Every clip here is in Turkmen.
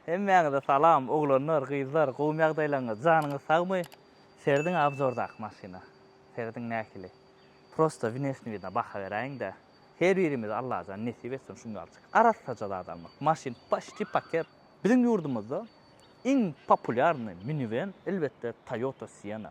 Hemmäňize salam oglanlar gyzlar gowmy ýagdaýlaňyz janyňyz sagmy serediň abzordaky maşyna serediň nähili prosta wnesni widna baha beräýiňdä her birimize allajan nesip etsin şunjalcik arassaja zat almak maşyn paşti paket biziň ýurdumyzda iň populýarny miniwen elbetde toyota siena.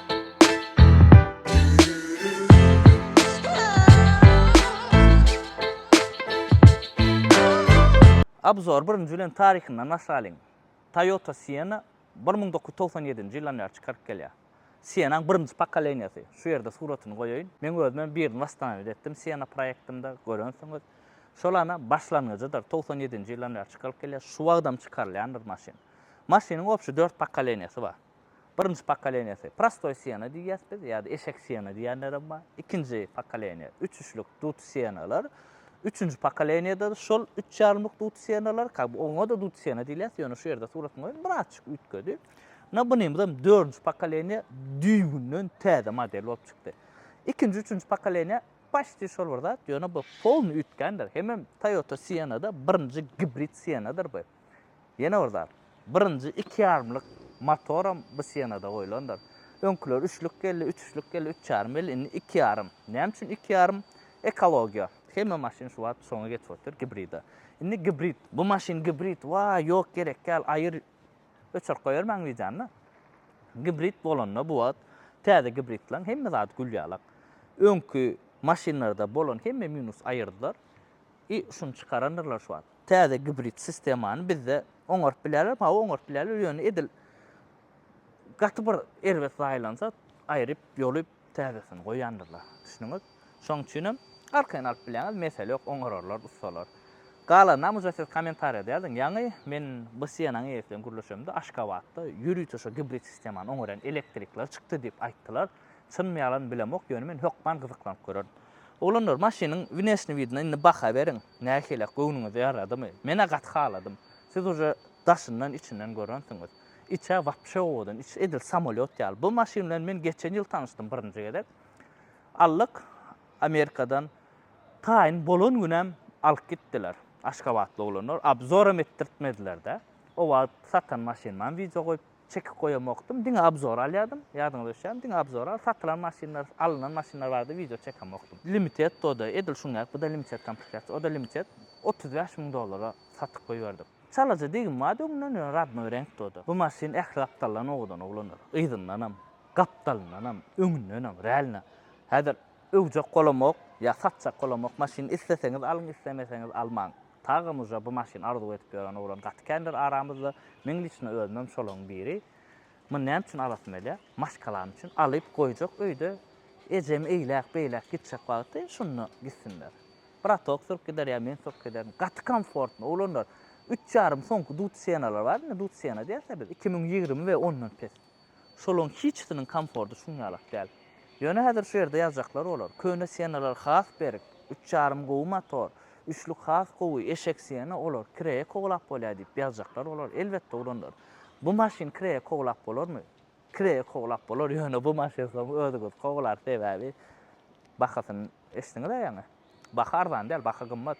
Obzor, Birinji bilen taryhyndan başlalyň. Toyota Sienna bir müň dokuz ýüz togsan ýedinji ýyldan bäri çykaryp gelýär. Siennaň birinji pokoleniýasy. Şu ýerde suratyny goýaýyn. Meň özümem birini wastanawid etdim Sienna proýektimde, görensiňiz. Şolana başlangyjydyr. Togsan ýedinji ýyldan bäri çykaryp gelýär. Şu wagtam çykarylýandyr maşyn. Maşynyň obşi dört pokoleniýasy bar. Birinji pokoleniýasy prostoý sena diýýäs biz ýa-da eşek sena diýýänlerem bar. Ikinji pokoleniýa üçüşlik dut senalar. Üçünji pokoleniýada şol üç ýarymlyk dut senalar, ka oňa-da dut sena diýilýär, ýöne şu ýerde suratyma görä birazçyk üýtgedi. Na bunymyzam dördünji pokoleniýa düýbünden täze model bolup çykdy. Ikinji, üçünji pokoleniýa paşti şol bir zat, ýöne bu polny üýtgändir. Hemem Toyota Sienna-da birinji gibrid senadyr bu. Ýene bir zat, birinji iki ýarymlyk motoram bu senada goýlandyr. Öňküler üçlük geldi, üç üçlük geldi, üç ýarym geldi, indi iki ýarym. Näme üçin iki ýarym? Ekologiýa. Hemme maşyn şu wagt şoňa geçip otyr, gibride. Indi gibrid, bu maşyn gibrid, waý, ýok, gerek däl, aýyr, öçürip goýbermäň wideony. Gibrid bolanda bu wagt täze gibridleriň hemme zady gülýalak. Öňki maşynlarda bolan hemme minus aýyrdylar i şuny çykarandyrlar şu wagt. täze gibrid sistemany bizde oňaryp bilerlermi? Hawa, oňaryp bilerler, ýöne edil gaty bir erbet zaýalansa, aýryp, ýolup, täzesini goýandyrlar. Düşündiňiz? Şonuň üçin hem arkaýyn alyp bilýäňiz, mesele ýok, oňararlar ussalar. Galanynam uje siz kommentariýada ýazyň. Ýaňy men bu Sienna-nyň eýesi bilen gürleşemde, Aşgabatda ýörite şo gibrid sistemany oňarýan elektrikler çykdy diýip aýtdylar. Çynmy ýalanmy bilemok ýöne men hökman gyzyklanyp görerin. Oglanlar maşynyň wneşni widine indi baha beriň. Nähili, göwnüňize ýaradymy? Men-ä gaty haladym. Siz uje daşyndan içinden görensiňiz. Içä wapşe owadan, içi edil samolýot ýaly. Bu maşyn bilen men geçen ýyl tanyşdym birinji gezek. Allyk Amerikadan taýyn bolan günem alyp gitdiler. Aşgabatly oglanlar, obzoram etdirtmediler-dä. O wagt satan maşynymam wideo goýup çekip goýamokdym, diňe obzor alýardym, ýadyňyza düşýärmi, diňe obzor al, satylan maşynlar, alnan maşynlar barada wideo çekemokdym. Limited o-da, edil şuň ýaly, bu-da limited komplektaýasiýa, o-da limited, otuz bäş müň dollara satyp goýberdik. Çalaja degim bardy öňden, ýöne radnoý reňkdi o-da. Bu maşyn ähli gapdaldan owadan oglandyr. Yzyndanam, gapdalyndanam, öňündenem, realno, häzir öwjek bolamok, ýa satjak bolamok, maşyny isleseňiz alyň, islemeseňiz almaň. Taga muža bu maşyn arzuw edip ýören oglan gaty kändir aramyzda, meň liçno özümem şolaň biri. Muny näme üçin alasym gelýär? Maşgalam üçin, alyp goýjak öýde ejemi eýläk beýläk gitjek wagty şunda gitsinler. Bratok sürüp gider ýa men sürüp giderin. Gaty komfortno oglanlar. Üç ýarym soňky dut sienalary bar indi dut siena diýeris-ä biz iki müň ýigrimi we ondan pes. Şolaryň hiçisiniň komfordy şuň ýalak däl. Ýöne häzir şu ýerde ýazjaklar bolar. Köne Siennalar has berk, üç ýarym gowy motor, üçlük has gowy, eşek Sienna olar kireýe kowalap bolýar diýip ýazjaklar bolar. Elbetde ugrandyr. Bu maşyn kireýe kowalap bolarmy? Kireýe kowalap bolar, ýöne bu maşyn soň özüňiz kowalar sebäbi bahasyny eşdiňiz-ä ýaňy. Baha arzan däl, baha gymmat.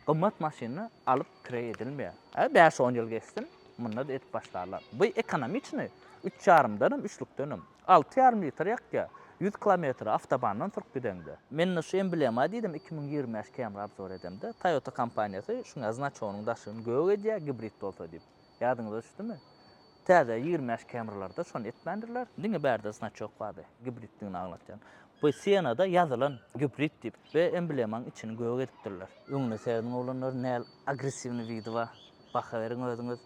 Gymmat maşyny alyp kireý edilmeýär. Hä, bäş-on ýyl geçsin, munda-da edip başlarlar. Bu ekonomiçnyý, üç ýarymdanam, üçlükdenem. Alty ýarym litr ýakýar. Ýüz kilometri awtobandan sürüp gideňde. Men-de şu emblema diýdim, iki müň ýigrimi bäş Camry obzor edemde, Toyota kompaniýasy şuňa znaçogynyň daşyny gök edýär, gibrid bolsa diýip. Ýadyňyza düşdümi? Täze ýigrimi bäş Camry-larda şony etmändirler. Diňe bärde znaçok bardy, gibriddigini aňlatýan. Bu sienada ýazylan gibrid diýip we emblemaň içini gök edipdirler. Öňüne serediň oglanlar nel agressiwny widi bar. Baha beriň özüňiz.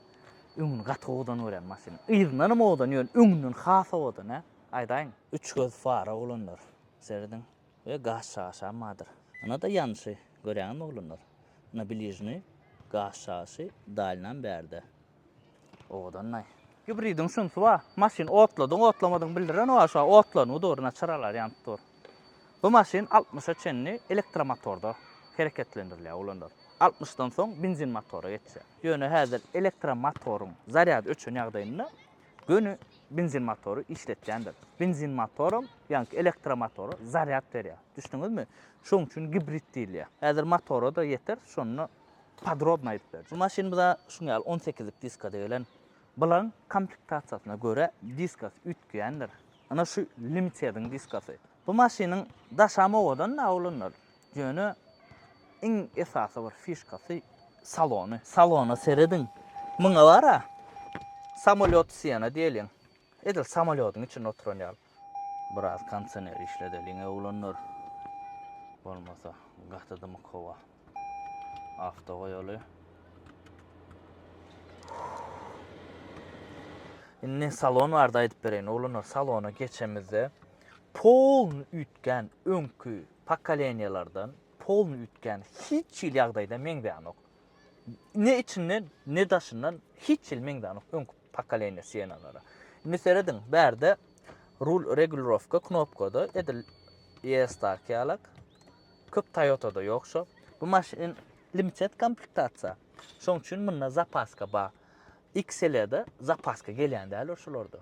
Öňüni gaty owadan görýän maşynyň. Yzyndanam owadan ýöne öňünden has owadan hä. Aýdaýyň. Üç göz fara oglanlar. Serediň. We gaz çaşam bardyr. Ynada ýanşy, görýäňizmi oglanlar? Ina bližny gaz çaşy dalynam bärde. Owadanlaý. Gibridiň şunsy bar, maşyn otladyň otlamadygyny bildiren bar şa otlanyp dur, ina çyralary ýanyp dur. Bu maşyn altmyşa çenli elektromotorda hereketlendirilýär oglanlar. Altmyşdan soň benzin motora geçýär. Ýöne häzir elektromotoryň zarýady öçen ýagdaýynda göni benzin motory işletýändir. Benzin motoram, ýaňky elektromotora zarýad berýär. Düşdüňizmi? Şonuň üçin gibrid diýilýär. Häzir motora-da ýeter, şonda podrobno aýdyp berjek. Bu maşynymyza şuň ýaly on sekizlik diskada gelen. Bularyň komplektasiýasyna görä diskasy üýtgeýändir. Ynha şu Limited-iň diskasy. Bu maşynyň daşam owadan-da, oglanlar. Ýöne iň esasy bir fişkasy salony. Salona serediň. Muňa bara samolýot siýana diýeliň. Edil samolýodyň içinde oturan ýaly. Biraz kondisioner işledeliň oglanlar. Bolmasa gaty dymyk howa. Awto goýaly. Indi salon barada aýdyp bereýin oglanlar. Salona geçemizde polny üýtgän öňki pokoleniýalardan polny üýtgän hiç hili ýagdaýda meňzänok. Ne içinden, ne daşyndan hiç hili meňzänok öňki pokoleniýa Siennalara. Indi serediň, bärde rul regulirowka knopkada edil ES-daki ýaly, köp Toyota-da ýok şo. Bu maşyn limited komplektasiýa. Şoň üçin munda zapaska bar. XL-de zapaska gelýän däl ol şolarda.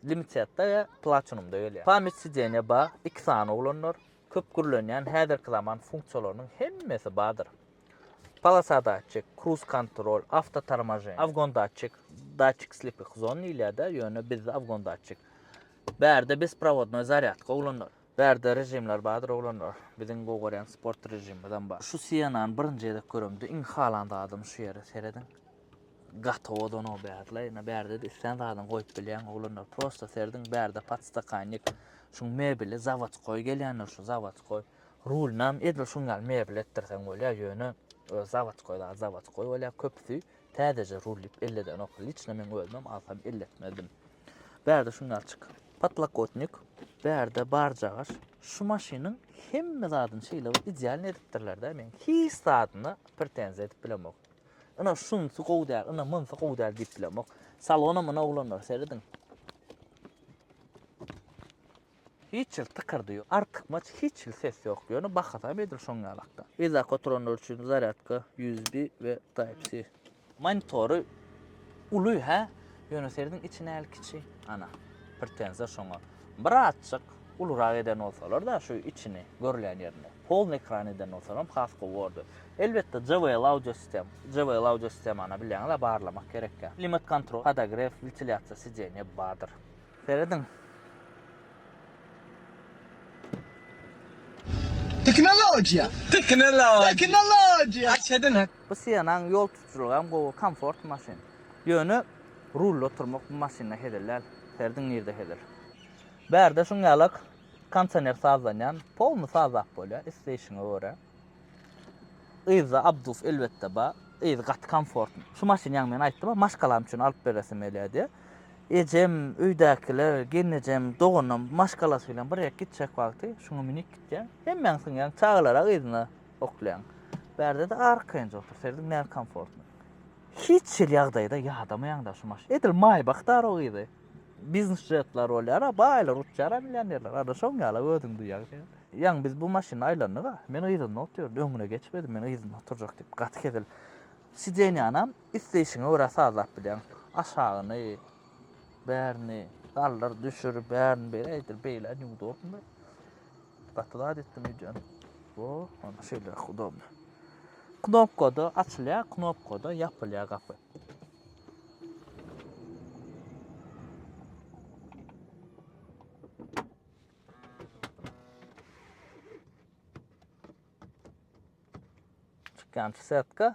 Limitedda we Platinumda gelýär. Pamýat sideniýa bar, iki sany oglanlar, köp gürlenýän häzirki zaman funksiýalarynyň hemmesi bardyr. Polosa datçik, kruz kontrol, awto tormoženiýe, awgon datçik, datçik slepih zon diýilýär-de, ýöne bizde awgon datçik. Bärde besprawodnoý zarýadka oglanlar. Bärde režimler bardyr oglanlar. Biziň gowy görýän sport režimimizem bar. Şu Sienany birinji gezek göremde iň halan zadym şu ýeri serediň. Gaty ozanok bärde ina bärde islän zadyňy goýup bilýäň oglanlar prosta serdiň bärde podstakannik şuň mebeli zawodskoý gelýändir şu zawodskoý rulynam edil şuň ýaly mebel etdirseň bolýa ýöne öz zawodskoý zat zawodskoý bolýa köpüsi täzeje rul diýip elledenok liçno meň özümem alsam elletmezdim bärde şuň ýaly çyk potlakotnik bärde barjagaş şu maşynyň hemme zadyny şeýle bir idealny edipdirlerde men hiç zadyna pretenziýa edip bilemok Ina şunsy gowy däl, ina munsy gowy däl diýip bilemok. Salona muna oglanlar serediň. Hiç hil tykyrdy ýok. Artykmaç hiç hil ses ýok. Ýöne bahasam edil şoň ýalakda. Yzak oturanlar üçin zarýadka USB we Type-C. Monitory uly hä? Ýöne serediň içi näl kiçi. Ana, pretenzýa şoňa. Bir azjyk ulurak eden bolsalar-da şu içini, görülýän ýerini, polny ekran eden bolsalam has gowy bordy. Elbetde JBL audio sistem, JBL audio sistemana bilýäňiz-a barlamak gerekýä. Klimat kontrol, podogref, wentilyasiýa sidenýe bardyr. Serediň. Teknologiýa! Teknologiýa! Teknologiýa! Aç edin! Bu Siennaň ýol tutujylygy hem gowy, komfort maşyn. Ýöne rulda oturmak bu maşynda hezil däl. Serediň nirde hezil. Bärde şuň ýalak konsioner sazlanýan polny sazlap bolýar isleýşiňe görä. Yzda abduf elbetde bar. Yzy gaty komfortny. Şu maşyn ýaňy men aýtdym-a maşgalam üçin alyp beresim gelýär diýip. Ejem, öýdäkiler, gelnejem, doganym maşgalasy bilen bir ýere gitjek wagty şuňa münüp gitýäň. Hemmäň synýaň çagalara yzyna oklaýaň. Bärde-de arkaýynja otur. Serediň näme komfortny. Hiç hil ýagdaýda ýadamaýaň daşym aş. Edil Maýbak daro gyzy. Biznes jetler bolýar, a baýlar uçýar, a millionerler. Ada şoň ýala özüň duýýaň sen. Ýaňy biz bu maşynda aýlandyk-a. Men yzynda otyryn, öňüne geçmedim, men yzynda oturjak diýip, gaty hezil. Sidenýanam isleýşiňe görä sazlap bilýäň. Aşagyny, bärini, galdyr, düşür, bärini beýle, eýdir, beýle, neudobno. Gaty zat etdim öýdýän. Wo, onda şeýle udobny. Knopkada açylýar, knopkada ýapylýar gapy. Çıkan setka.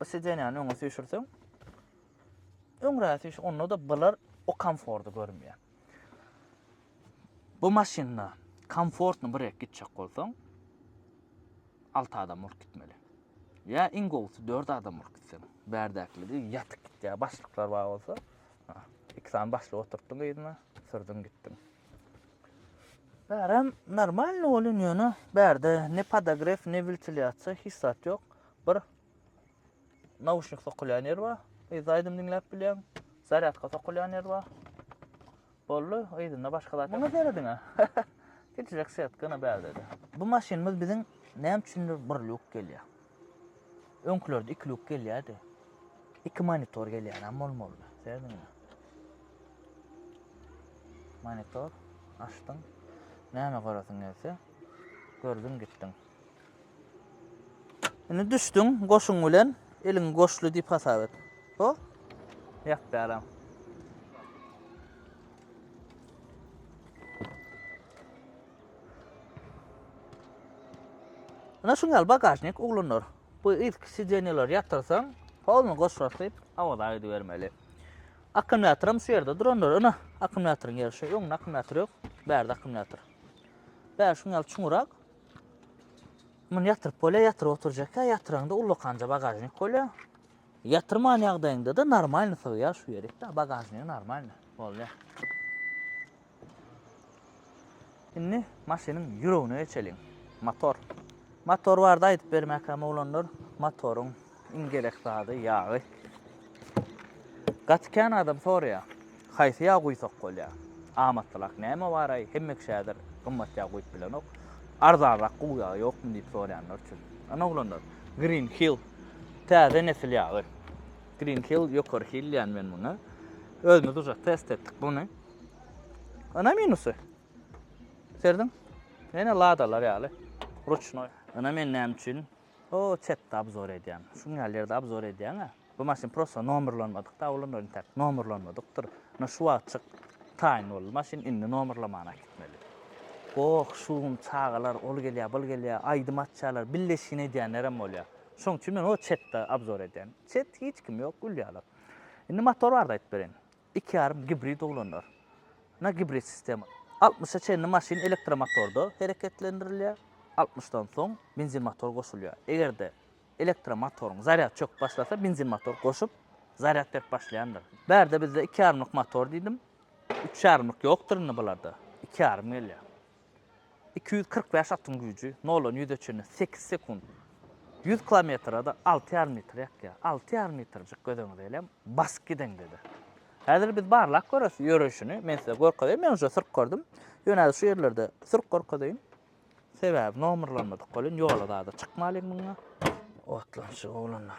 Bu sidenýany öňe süýşürseň, öňräk süýşür, onda-da bular o komforty görmeýär. Bu maşynda komfortny bir ýek gitjek bolsaň, 6 adam bolup gitmeli. Ýa iň gowusy 4 adam bolup gitseň, bärdäkiligi ýatyk gitýär, başlyklar bar bolsa, iki sany başlyk oturtdyň yzyna, sürdüň gitdiň. Bärem normalny bolýan ýöne bärde ne podogref, ne wentilýasiýa hiç zat ýok. Bir Nauşnik sokulýan ýer bar. Yzda aýdym diňläp bilýäň. Zarýadka sokulýan ýer bar. Boldy, yzynda başga zat. Muňa serediň-ä. Gijirek sýat, gyna bärdedi. Bu maşynymyz biziň näme üçindir bir lýuk gelýär. Öňkülerde iki lýuk gelýärdi. Iki monitor gelýärem bolmalydy. Serediň-ä. Monitor açdyň. Näme göresiň gelse, gördüň gitdiň. Indi düşdüň goşuň bilen eliň goşly dip hasap et. Ho? Ýap bäram. Ana şuň ýaly bagažnik oglanlar. Bu ilk sidenýalar ýatyrsaň, howluny goşlasyp, awaza gidibermeli. Akkumulýator hem şu ýerde duranlar. Ana, akkumulýatoryň ýeri şu. Öňde akkumulýator ýok, bärde akkumulýator. Bär şuň ýaly çuňurak, Muny ýatyryp bolýar, ýatyryp oturjakka, ýatyraňda ullakança bagažnik bolýar. Ýatyrman ýagdaýyňda-da normalny sygýar şu ýerik-de, bagažnigi normalny bolýar. Indi maşynyň ýüregine geçeliň. Motor. Motor barada aýdyp bermäkäm oglanlar, motoryň Iň gerek zady ýagy. Gaty kän adam soraýar. Haýsy ýag guýsak bolýar? Amatlyrak näme baraý? Hemme kişi häzir gymmat ýag guýup bilenok. Arzanrak guw ýagy ýokmy diýip soraýanlar üçin. Ana oglanlar, Green Hill täze nesil ýagy. Green Hill ýokary hil diýýän men muňa. Özümiz uje test etdik muny. Ana minusy. Serdiň? Ýene ladalar ýaly. Ruçnoý. Ana men näme üçin O çetde abzor edýän. Şuň ýaly ýerde abzor edýäňä. Bu maşyn prosta nomerlanmadykda olanlar intäk nomerlanmadykdyr. Ine şu wagtjyk taýyn boldy maşyn indi nomerlaman äkitmeli. Goh, şum, çagalar ol gelýär, bul gelýär, aýdym açýarlar, billeşgin edýänlerem bolýar. Şoň üçin men o çetde abzor edýän. Çet hiç kim ýok gülýärler. Indi motor barada aýdyp bereýin. Iki ýarym gibrid uglanlar. Na gibrid sistema. Altmyşa çenli maşyn elektromotorda hereketlendirilýär, altmyşdan soň benzin motor goşulýar. Eger-de elektromotoryň zarýady çöküp başlasa, benzin motor goşup, zarýad berip başlaýandyr. Bärde bizde iki ýarymlyk motor diýdim. Üç ýarymlyk ýokdur indi bularda. Iki ýarym gelýär. Iki ýüz kyrk bäş atyň güýji noldan ýüze çenli sekiz sekunt. Ýüz kilometre-de alty ýarym metr ýakýar. Alty ýarym metrjik gözüňize elem basyp gideňde-de. Häzir biz barlap göreris ýöreýşini. Men size görkezeýin. Men uje sürüp gördüm. Ýöne şu ýerlerde sürüp görkezeýin. Sebäbi nomerlanmadyk welin ýola zada çykmalyň muňa. Otlanşyk oglanlar.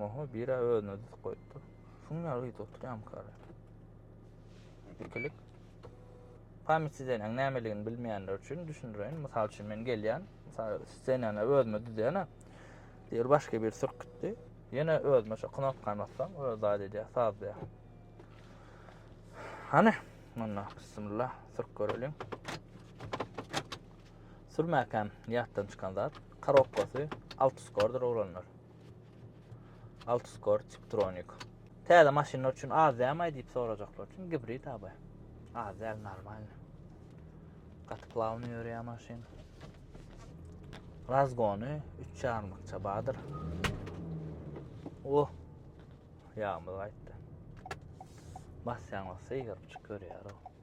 Oho, bira özüne düzüp goýupdyr. Şuň ýaly ýyt oturýam kara. Ikilik. Pamit sizeneň nämeligini bilmeýänler üçin düşündireýin. Mysal üçin men gelýän, mysal ssenany özüme düzýän. Diýer başga bir sürkütdi. Ýene özüme şu knopkany bassam, öz zat edýär, saz diýär. Hany, munda bismillah, sürk göreliň. Sürmäkäm ýatdan çykan zat, karobkasy alt skordyr oglanlar. Altiscore Tiptronic. Täze maşynlar üçin az dämaý diýip sorajaklar üçin gibrid abi. Az däl normal. Gaty plawny ýörýär maşyn. Razgony 3 çarmykça badyr. Oh. Ýagmyr gaýtdy. Basýaň bolsa ýygyryp çyk görýär o.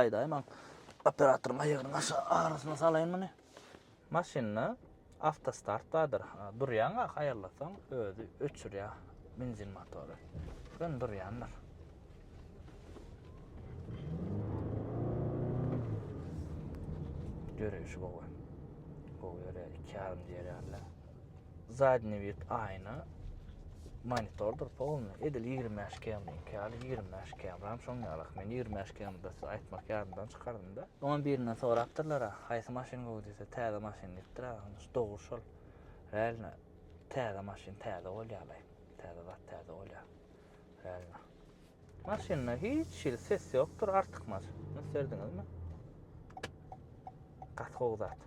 Aýdaýyn maň operatoryň aýagynyň aşa arasyna salaýyn muny. Maşynda awtostart bardyr. Durýaň ak aýallasaň özi öçürýär benzin motory. Sen durýandyr. Görüşi gowy. Gowy ýöreýär, iki ýarym diýýärler. Zadni vid aýna monitordyr polny edil ýigrimi bäş km-niňki ýaly ýigrimi bäş km-ram şoň ýalak men ýigrimi bäş km-da size aýtmak ýadymdan çykardymda oňam birinden sorapdyrlara haýsy maşyn gowy diýse täze maşyn diýipdir-ä ony dogry şol realno täze maşyn täze bolýalaý täze zat täze bolýar realno. Maşynda hiç hili ses ýokdur, artykmaç. Ýüz serdiňizmi? Gaty gowy zat.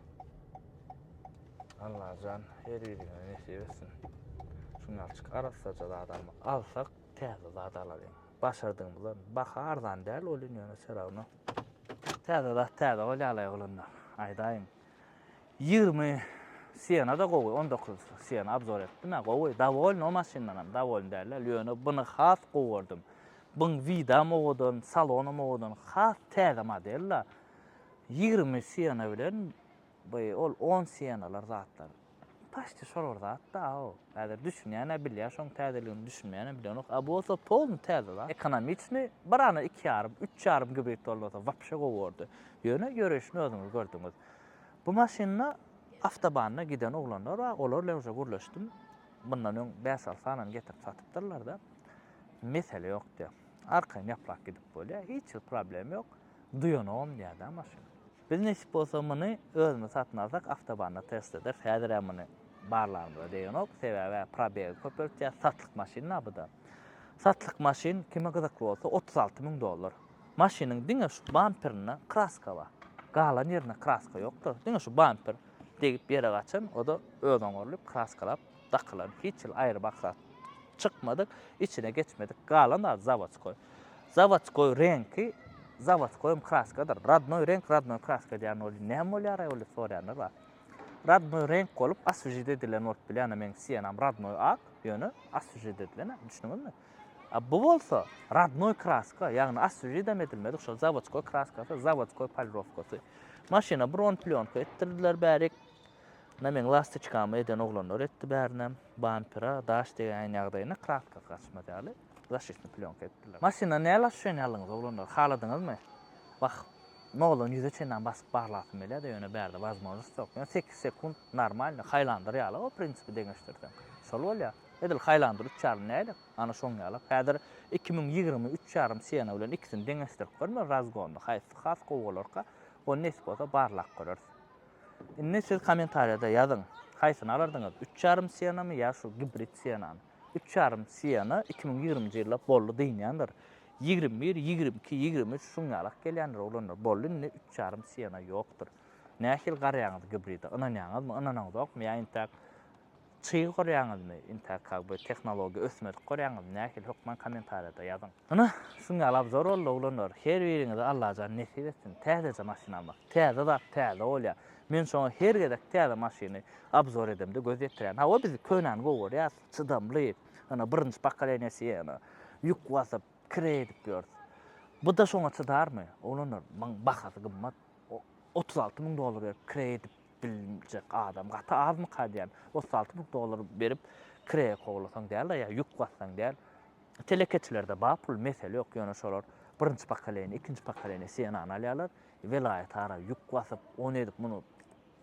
Allajan her birine nesip etsin. Şunalçyk arassaja zat almak. Alsak täze zat alalyň. Başardygymyza baha arzan däl welin ýöne seragna. Täze zat täze bolýar-la oglanlar. Aýdaýyň, Ýigrimi Siena-da gowy, on dokuz Siena abzor etdim-ä, gowy, dowolny o maşyndanam, dowolny däl-ä, ýöne buny has gowy gördüm. Buň widam owadan, salonam owadan, has täze model-la. Ýigrimi Siena bilen, by, ol on Sienalar zatlar. Paçti şol bir zat da o. Häzir düşünýän-ä bilýär, şoň täzeligini düşünmeýän-ä bilenok. A bolsa polny täze zat. Ekonomiçni bir ane iki ýarym, üç ýarym gibrid bolmasa wapşe gowy bordy. Ýöne ýöreýşini özüňiz gördüňiz. Bu maşynda awtobanda giden oglanlar bar, olar bilen uje gürleşdim. Mundan öň bäş-alty sanany getirip satypdyrlar-da. Mesele ýok diýýär. Arkaýyn ýaplap gidip bolýar. Hiç bir problem ýok. Duýanogam diýýär-dä maşyn. Biz nesip bolsa muny özümiz satyn alsak awtobanda test ederis. Häzir hem muny barlagymyza degenok. Sebäbi probegi köpeltýär. Satlyk maşyn da bu da. Satlyk maşyn kime gyzykly bolsa 36 müň dollar. Maşynyň diňe şu bamperinde kraska bar. Galan ýerinde kraska ýokdur. Diňe şu bamper degip ýere gaçan, o da öz oňarylyp kraskalap Dakylan hiç hil aýry maksat çykmadyk, içine geçmedik galan zat zawodskoý. Zawodskoý reňki zawodskoýam kraskadyr. Rodnoý reňk rodnoý kraska diýen bolup näme bolýaraý ol diýip soraýanlar bar. Rodnoý reňk bolup aswžit edilen bolup bilýär, ana meniň sienam rodnoý ak, ýöne aswžit edilen, düşündiňizmi? A bu bolsa rodnoý kraska, ýagny aswžit hem edilmedik, şol zawodskoý kraskasy, zawodskoý polirowkasy. Maşyna bron plýonka etdirdiler bärik. Ynha meň lastiçkamy eden oglanlar etdi bärinem. Bampera daş degäýen ýagdaýynda kraska gaçmaz ýaly zaşitni plýonka etdiler. Maşyndan näl aşuşeniýa aldyňyz oglanlar? Haladyňyzmy? Wah, noldan ýüze çenlän basyp barlasym gelýär-de, ýöne bärde wazmožnost ýok. Ýöne sekiz sekunt normalny, haýlandyr ýaly-ow prinsipi deňeşdirseň. Şol bolýar. Edil haýlandyr üç ýarym näýlek? Ana şoň ýalak. Häzir iki müň ýigrimi üç ýarym Siena bilen ikisini deňeşdirip görme razgonda haýsysy has gowy bolarka, ony nesip bolsa barlap göreris. Indi siz kommentariýada ýazyň, haýsyny alardyňyz, üç ýarym sienami ýa şu gibrid sienany? Üç ýarym siena iki müň ýigriminji ýylda boldy dynýandyr. Ýigrimi bir, ýigrimi iki, ýigrimi üç şuň ýalak gelýändir oglanlar. Boldy indi üç ýarym siena ýokdur. Nähili garaýaňyz gibride? Ynanýaňyzmy, ynanaňyzokmy ýa intäk Çyg gorýäňizmi inta kak be tehnologiýa ösmedik gorýäňizmi nähili hökman komentarýada ýazyň. Ynha şuň ýaly abzor boldy oglanlar her biriňize Allajan nesip etsin täzeje maşyn almak täze zat täze bolýa men şoňa her gezek täze maşyny abzor edemde göz ýetirýän hawa biz könäni gowy görýäs çydamly ynha birinji pokoleniýesi ynha ýük basyp kire edip ýörüs buda şoňa çydarmy oglanlar muň bahasy gymmat otuz alty muň dollar berip kire edip biljek adam gaty azmyka diýýän. Otuz alty müň dollar berip kireýe kowlasaň däl-de ýa ýük bassaň däl. Telekeçilerde bar pul, mesele ýok, ýöne şolar birinji pokoleniýa, ikinji pokoleniýa Sienany alýarlar, welaýat ara ýük basyp, ony edip, muny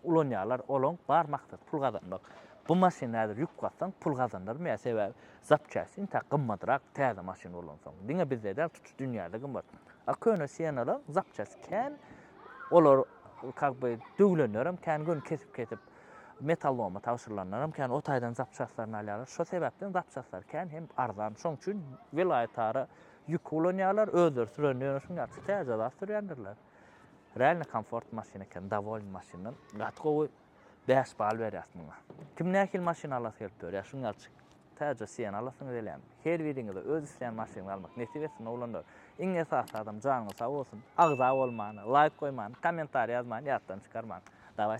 ulanýarlar, olaň bar maksady pul gazanmak. Bu maşyny häzir ýük bassaň pul gazanarmy ýa, sebäbi zapçastin tä gymmadyrak täze maşyn ulansaň. Diňe bizde däl, tutuş dünýäde gymmat. A köne sienalar zapçast kän, olar kak by döwülenlerem kän, göni kesip kesip metalloma tabşyrylanlaram kän, o taýdan zapçastlaryny alýarlar. Şo sebäpden zapçastlar kän hem arzan. Şoň üçin welaýatara ýük ulanýarlar, özleri süren ýöne şuň ýaly täze zat sürýändirler. Realny komfort maşyn eken, dowolny maşyndan. Gaty gowy, bäş bal berýäs muňa. Kim nähili maşyn alasy gelip ýörýär, şuň ýaly çyk. Täze Siena alasyňyz gelýärmi? Her biriňize öz isleýän maşynyňyzy almak nesip etsin oglanlar. Iň esasy adam janyňyz sag bolsun. Agza bolman, laýk goýman, kommentariý ýazman ýatdan çykarmaň. Dawayt.